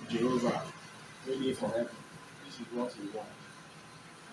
Jehovah wey dey for heaven. This is what he want.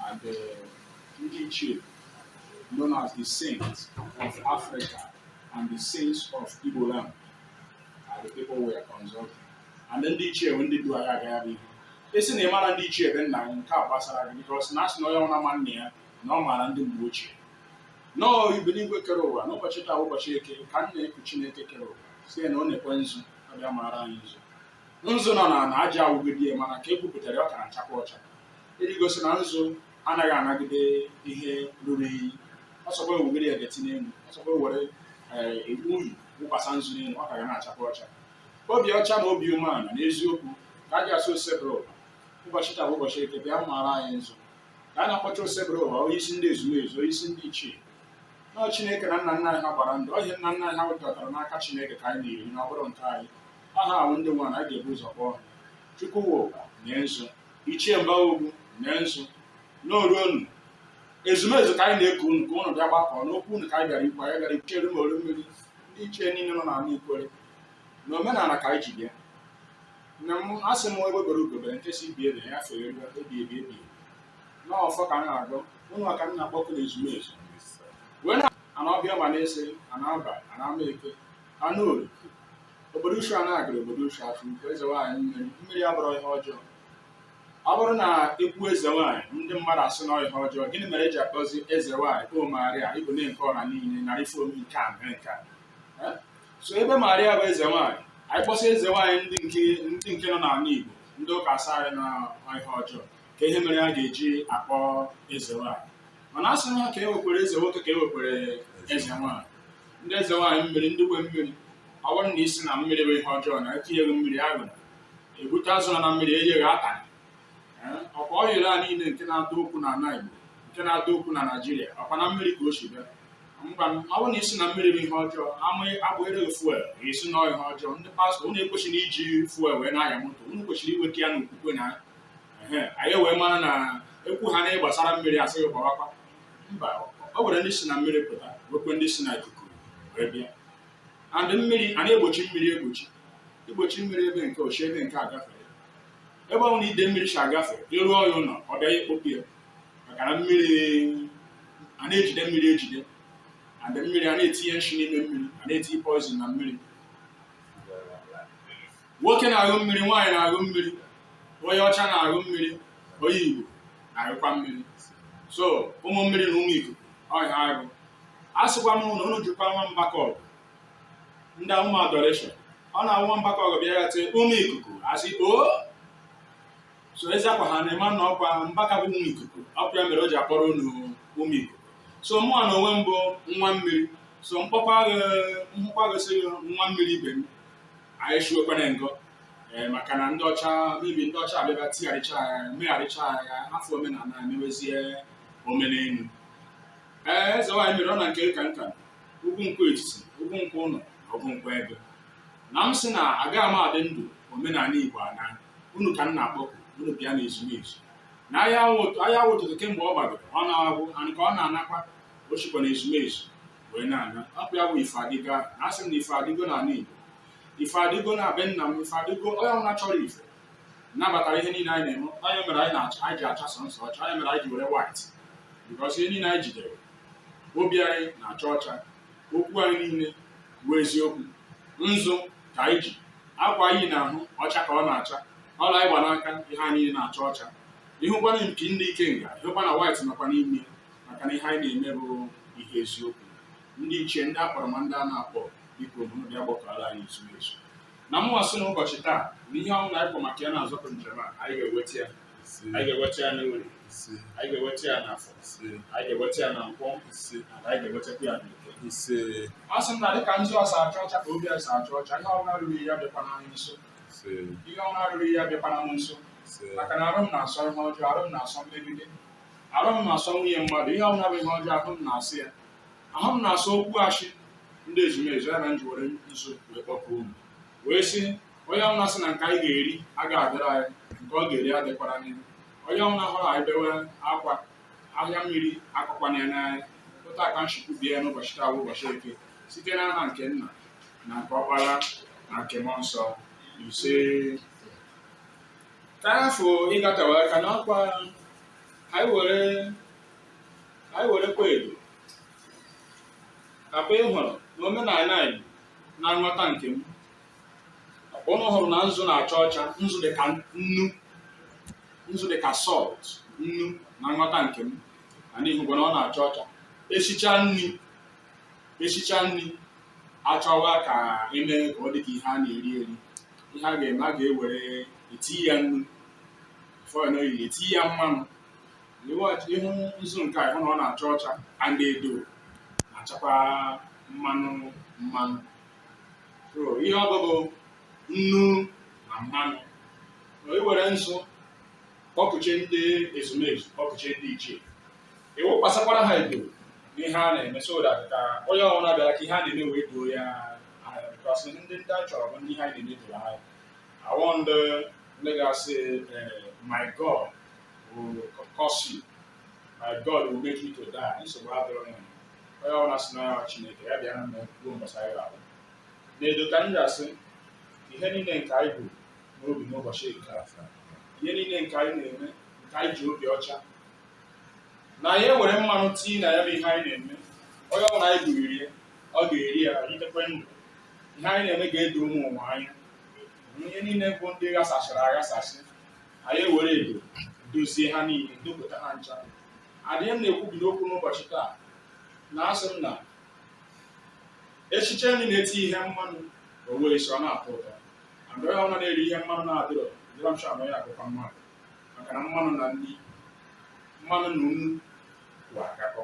And uh, ndị ichie known as the saints of Africa and the saints of Igbo land are the people we are consulting. And then ndị ichie ndị du anyị aga ihu. Ị sị na ị mara ndị ichie be nna nke a gbasara gị because na asị na onye ọna ma nna ya na ọ maara ndị mgbe ochie. Na onye bi n'igwe kere ụwa n'ụbọchị taa ụbọchị eke ka m na-eku Chineke kere ụwa si na ọ na-ekwe nzu bịa mara anyị nzu nzu nọ n'ala aja awụgide ya mana ka e gwupụtara ya ọ ka na-achakwa ọcha iji gosi na nzu anaghị anagide ihe ruru inyi ọsọkwa ewugide ya ga-eti n'elu ọsọkwa ewere unyi wụkwasa nzu n'elu ọ ka ga na-achakwa ọcha obi ọcha na obi umeala na eziokwu ka a ji asụ osebụrụ ụwa ụbọchị taa bụ ụbọchị eke bịa mara anyị nzu ka a na-akpọcha osebụrụ ụwa onye isi ndị ezumezu onye isi ndị ichie na Chineke na nna nna anyị ha gbara ndụ ọ ihe nna nna anyị ha wetara n'aka Chineke ka anyị na-eri na ọ bụrụ nke anyị aha ahụ ndị nwa na anyị ga-ebu ụzọ kpọọ ha Chukwuwo mee nzu Ichie Mbaogwu mee nzu n'oruonu ezumezu ka anyị na-eku unu ka unu bịa gbakọ n'okwu unu ka anyị bịara ikwu anyị bịara ikwuchere ma olu mmiri ndị ichie niile nọ n'ala Ikwere na omenala ka anyị ji bịa na m asị m egbe bere ugo bere nke si ibe ya fere ebi n'ọfọ ka m na-agọ ụnwa ka m na-akpọku na ezumezu wee na ana ọbịa ma na-ese ana aba ana ama eke ana orie obodo ushu a na-agara obodo ushu afọ nke eze nwaanyị mmiri abụrụ ihe ọjọọ ọ bụrụ na ekwu eze nwaanyị ndị mmadụ asị na ọ ihe ọjọọ gịnị mere eji akpọzi eze nwaanyị o maria ị bụ nne nke ọha niile narị fom nke a mere nke a Eh? so ebe maria bụ eze nwaanyị anyị kpọsị eze nwaanyị ndị nke nọ n'ala igbo ndị ụka asị anyị na ihe ọjọọ ka ihe mere a ga-eji akpọ eze nwaanyị mana a sị na ka e wekwere eze nwoke ka e wekwere eze nwaanyị ndị eze nwaanyị mmiri ndị nwe mmiri ọ bụrụ na ị sị na mmiri bụ ihe ọjọọ na etinye gị mmiri aṅụ ebute azụ na mmiri enye gị ata ọkwa oil a niile nke na-adọ okwu na ala Igbo nke na-adọ okwu na Naịjirịa ọkwa na mmiri ka o si bịa mgba ọ bụrụ na ị sị na mmiri bụ ihe ọjọọ amaghị abụghịrị fuel esi na ihe ọjọọ ndị pastọ unu ekwesịghị iji fuel wee na-anya moto unu kwesịrị iweta ya n'okwukwe na anyị wee mara na ekwu ha na gbasara mmiri asị gị gbawakwa mba o nwere ndị si na mmiri pụta wekwe ndị si na ikuku wee bịa and mmiri a na-egbochi mmiri egbochi i gbochie mmiri ebe nke ochie ebe nke agafere ebe ọ na ide mmiri si agafe ị rụọ ya ụlọ ọ bịa kpopụ ya maka na mmiri a na-ejide mmiri ejide and mmiri a na-etinye nshi n'ime mmiri a na-etinye poison na mmiri nwoke na-aṅụ mmiri nwaanyị na-aṅụ mmiri onye ọcha na-aṅụ mmiri onye igbo na-aṅụkwa mmiri so ụmụ mmiri na ụmụ ikuku ọhịa agụ a sịkwa m na unu jụkwa nwa Mbaka ọgụ ndị ụmụ adoration ọ na-awụ nwa Mbaka ọgụ bịa ya tee ụmụ ikuku asị o so ezi akwa ha na-eme na ọkwa Mbaka bụ ụmụ ikuku ọkwa ya mere o ji akpọrọ unu ụmụ ikuku so mụwa na onwe m bụ nwa mmiri so m kpọkwa gị sị nwa mmiri ibe m anyị shiwekwara ngọ ee maka na ndị ọcha mebi ndị ọcha abịaba tigharịcha ya megharịcha ya ahafụ omenala emewezie omenelu ee eze nwaanyị mere ọ na nke ka nka ugwu nkwụ etiti ugwu nkwụ ụlọ na ugwu nkwụ egu na m sị na agaghị m adị ndụ omenala igbo anaa unu ka m na-akpọku unu bịa na ezumezu na ahịa wụ ụtụtụ kemgbe ọ gbadoro ọ na-agwụ nke ọ na-anakwa o shikwa na ezumezu wee na-ana ọ bụ ya bụ ife adịgo ahụ na asị m na ife adịgo na ala Igbo ife adịgo na be nna m ife adịgo onye ọbụla chọrọ ife nabatara ihe niile anyị na-eme ọ ya mere anyị na-achọ anyị ji acha sọsọ ọcha ọ ya mere anyị ji were white because ihe niile anyị jidere obi anyị na-acha ọcha okwu anyị niile bụ eziokwu nzu ka anyị ji akwa anyị na-ahụ ọcha ka ọ na-acha ọla anyị gba n'aka ihe anyị niile na-acha ọcha ị hụkwa na mpi ndị ikenga ị hụkwa na white nọkwa n'ime maka na ihe anyị na-eme bụ ihe eziokwu ndị ichie ndị akpọrọ ma ndị a na-akpọ biko unu bịa gbakọrọ anyị ezumezu na mụnwa sị na ụbọchị taa na ihe ọbụla anyị kwọ maka ya na-azọpụ njem a anyị ga-eweta ya anyị ga-eweta ya n'Orie anyị ga-eweta ya n'Afọ anyị ga-eweta ya na Nkwọ na anyị ga-ewetakwa ya n'Eke a sị m na dịka nzu a si acha ọcha ka obi si acha ọcha ihe ọbụla rụrụ ya bịakwana anyị nso ihe ọbụla rụrụ ya bịakwana m nso maka na arụ m na-asọ ihe ọjọọ arụ m na-asọ mmegide arụ m na-asọ nwunye mmadụ ihe ọbụla bụ ihe ọjọọ ahụ m na-asọ ya ahụ m na-asọ okwu ashị ndị ezumezu ya na m ji were nzu wee kpọpụ unu wee sị onye ọbụla sị na nke anyị ga-eri agaghị adịrị anyị nke ọ ga-eri adịkwarana ya onye ọbụla hụrụ anyị bewe akwa anya mmiri akọkwana ya n'anya otu a ka m shi kwubie ya n'ụbọchị taa bụ ụbọchị eke site n'aha nke nna na nke ọkpara na nke mmụọ nsọ ise ka anyị fụ ịgatawa aka n'akwa anyị were anyị were kwa edo ọkwa ị hụrụ na omenala anyị na nghọta nke m ọkwa ụnụ hụrụ na nzu na-acha ọcha nzu dị ka nnu nzu dị ka salt nnu na nghọta nke m and ị hụgo na ọ na-acha ọcha esicha nri esicha nri achọwa ka eme ka ọ dị ka ihe a na-eri eri ihe a ga-eme a ga-ewere eti ya nnu fọil oyi eti ya mmanụ ị ịhụ nzu nke a ịhụ na ọ na-acha ọcha and edo na-achakwa mmanụ mmanụ so ihe ọ bụ bụ nnu na mmanụ iwere nzu kpọpụche ndị ezumezu kpọpụche ndị ichie ịwụkwasakwara ha edo n'ihe a na-eme so that ka onye ọbụla bịara ka ihe a na-eme wee doo ya anya because ndị ndị a chọrọ bụ ndị ihe anyị na-eme doro anya awọ ndị ndị ga-asị eh, my god will curse you my god will make you to die nsogbu adịrọ ya onye ọbụla sị na ya chineke ya bịa na mme ruo mbọsị anyị ga-abụ na-edo ka m ga-asị ihe niile nke anyị bu n'obi n'ụbọchị nke a ihe niile nke anyị na-eme nke anyị ji obi ọcha na anyị ewere mmanụ tii na ya bụ ihe anyị na-eme onye ọbụla anyị gụriri ya ọ ga-eri ya itekwe ndụ ihe anyị na-eme ga-edo ụmụ ụwa anya ihe niile bụ ndị ghasachara aghasasị anyị ewere edo dozie ha niile dopụta ha ncha and m na-ekwubi n'okwu n'ụbọchị taa na-asị unu na esiche nri na-eti ihe mmanụ o wee si ọ na-atọ ụtọ and onye ọbụla na-eri ihe mmanụ na-adịrọ dịrọ m sha na onye akụkọ mmadụ maka na mmanụ na nri mmanụ na nnu bụ akakọ